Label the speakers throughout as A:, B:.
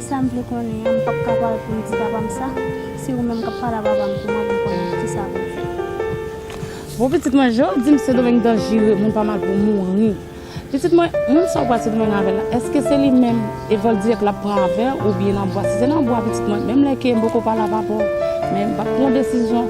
A: Sam vle konnen an m pap ka pale poum di papam sa se ou menm kap pale a papam pou mwen poum konnen kisa poum fè.
B: Bon pitit mwen je ou dim sedomeng danjire moun pa mal pou mouri pitit mwen moun sa ou pral sedomeng avèl la eske se li menm e vòl dirèk lap pran avèw ou byen nan bwa si se nan bwa pitit mwen menm lè ke m poko pale a papaw men m pap pran desizyon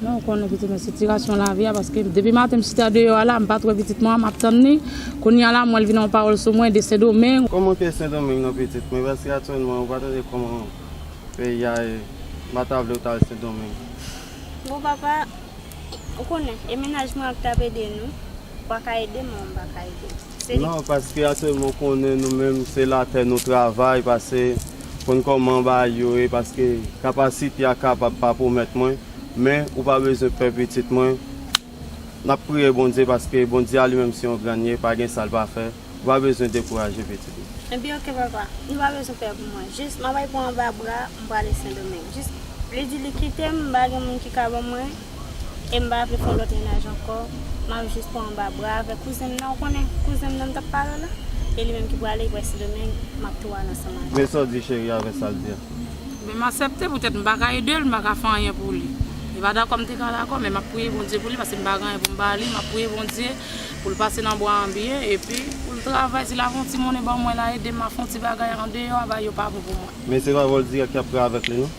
C: Mwen ou
B: konnen pitit mwen sitirasyon lavi a paske depi maten m chita deyò a la m pat wè pitit mwen an map tann li kounye a la m wèl vin yon pawòl sou mwen de sendomeng Kom ou te sendomeng
C: non pitit mwen paske aktyèlman ou pa tande koman peyi a ye m pa ta vle ou tal sendomeng. Bon
A: papa ou konnen e mennaj mwen ak tap ede nou ou paka edem mwen mwen paka edem. Non paske atyèlman
C: konnen nou menm se latè nou travay pase konn kòman bagay yo ye paske kapasite a kapab pa pwomèt mwen men ou pa bezwen pè pitit mwen nap priye Bondye paske Bondye a li menm se yon grann ye pa gen sal pa fè ou pa bezwen dekouraje pitit mwen. Ebyen ok papa
A: nou pa bezwen pè pou mwen jis map al pran anba bra m prale sendomeng jis li di li kitem m pa gen moun ki ka ban mwen. e m pa vle fè lòt mennaj ankò, m ap jis pran anba bra avèk kouzen m nan, ou konnen kouzen m nan m t ap pale w la, e li menm ki prale li prèske demen, m ap tou al ansanm avè l. Men sa w di cheri a avè
C: sa l di a. Men m asèpte
B: poutèt m pa ka ede l, m pa ka fè anyen pou li. Li pa dakò m te ka dakò, men m ap priye Bondye pou li paske m pa gen anyen pou m ba li, m ap priye Bondye pou l pase nan bwa anbyen, epi pou l travay, si l ap fè yon ti monnen ban mwen la ede m ap fè yon ti bagay andeyò a, bay yo pa bon pou mwen. Men se pa vòl dirèk y
C: ap pran avèk li non.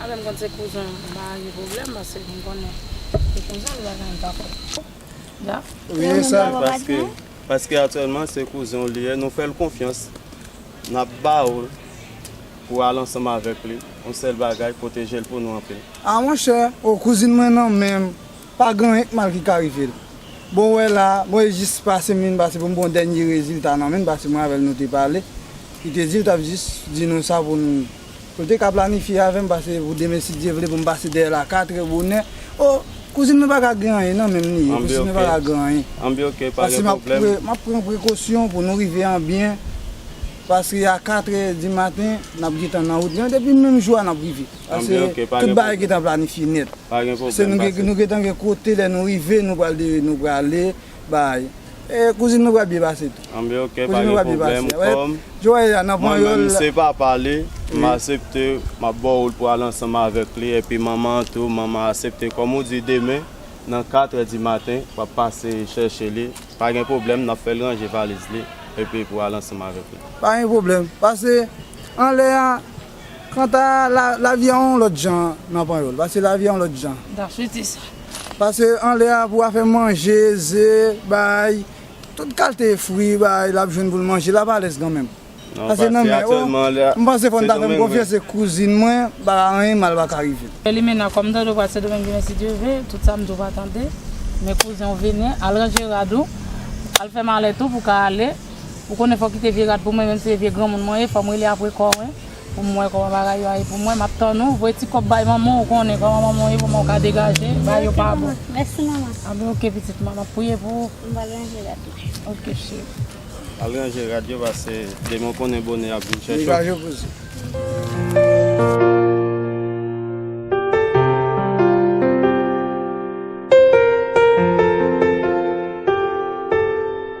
B: Apre m konn se kouzen m pa gen pwoblèm paske m konnen se kouzen m bagay m pa fèt twòp daf. Wi e sa paske
D: paske
C: aktyèlman se kouzen w li ye nou fè l konfyans n ap ba w l pou al ansanm avèk li yon sèl bagay pwoteje l pou nou anpil. A monchè
D: o kouzin mwen nan men m pa gen anyen k mal ki ka rive l bon wè la mwen e jis pase m vin pase pou m pran yon dènye rezilta nan men l paske mwen avè l nou te pale li te di l t ap jis di nou sa pou nou Nou te ka planifye avè m pase pou demen si Dye vle pou m pase dèyè l a katre bonè. O, kouzin mwen pa ka gen anyen nan men m li ye, kouzin mwen pa ka gen anyen. An bi ok, pa gen
C: pwoblèm. M ap pran
D: prekosyon pou nou rive an byen pase a katre di maten n ap gen tan nan wout lan depi menm jou a n ap rive. An bi ok, pa gen pwoblèm. Pase tout bagay gen tan planifye nèt. Pa gen pwoblèm, pase. Se nou gen tan gen kote lè nou rive nou prale Bay. E kouzin nou pral byen pase tou. An ben ok pa gen pwoblèm
C: kòm mwen menm se papa li m asepte m ap ba w l pou w al ansanm avèk li epi manman an tou manman an asepte kòm ou di demen nan katrè di maten w ap pase chèche li pa gen pwoblèm n ap fè l ranje valiz li epi pou w al ansanm avèk li. Pa gen pwoblèm
D: pase anlè a. Kanta lavi a yon lòt jan nan Panyòl, pase lavi a yon lòt jan. N tap swete sa. Pase anlè a pou afè manje, ze, bay, tout kalte fri, bay, l ap jwenn pou l manje, l ap alèz kanmenm. Pase nan men
C: o, m panse fò
D: n ta fè m konfyans se kouzin mwen, m pa ka anyen mal pa ka rive l. Elimena, Kòm m tande
B: ou pral Sendomeng demen si Dye ve, tout sa m di w pa tande, men kouzen w vini, al ranje rad ou, al fè malèt ou pou w ka ale. Ou konnen fòk kite vye rad pou mwen menm si se vye granmoun mwen ye fòm rele apre kò mwen pou m wè kòman bagay yo a ye pou mwen map tann ou voye ti kòb bay manman w ou konnen kòman manman w ye pou manman w ka degaje bay yo pa bon anben
A: ok pitit mwen
B: map priye pou ou m pral ranje rad
A: mwen ok cheri
B: al ranje
C: rad yo pase demen w konnen bone ap vin chèche w.